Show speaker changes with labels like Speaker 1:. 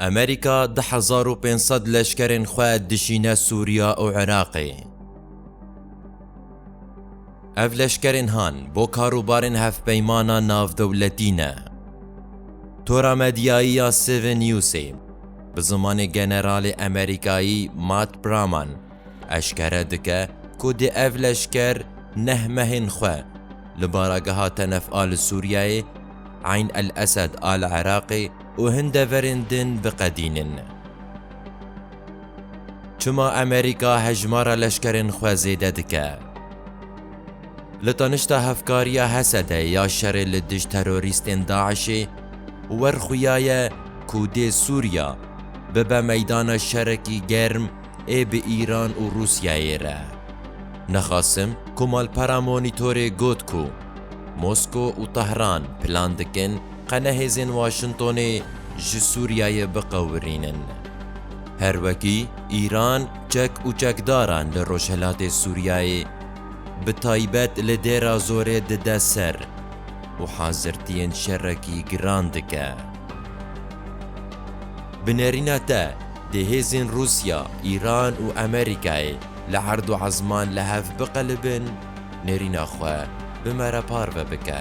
Speaker 1: Amerîka du hezar û pênc sed leşkerên xwe dijîne Sûriya û Iraqê. Ev leşkerên han bo karûbarên hevpeymana navdewletî ne. Tora medyayî ya Seven Newsê bi zimanê generalê Amerîkayî Matt Praman eşkere dike ku dê ev leşker neh mehên xwe li barageha Tenef a li Sûriyeyê, Eyn el-Esed a li Iraqê, Û hin deverên din biqedînin. Çima Amerîka hejmara leşkerên xwe zêde dike? Li tanişta hevkariya Hesede ya şerê li dij terorîstên DAIŞ'ê werxuyaye ku dê Sûriya bibe meydana şerekî germ ê bi Îran û Rûsyayê re. Nexasim ku malpera Monitorê got ku Mosko û Tehran plan dikin, Qene hêzên Waşingtonê ji Sûriyeyê biqewirînin. Her wekî Îran çek û çekdaran li rojhilatê Sûriyeyê bi taybet li Dêra Zorê dide ser û hazirtiyên şerekî giran dike. Bi nerîna te dê hêzên Rûsya, Îran û Amerîkayê li her du ezman li hev biqelibin. Nêrîna xwe bi me re parve bike.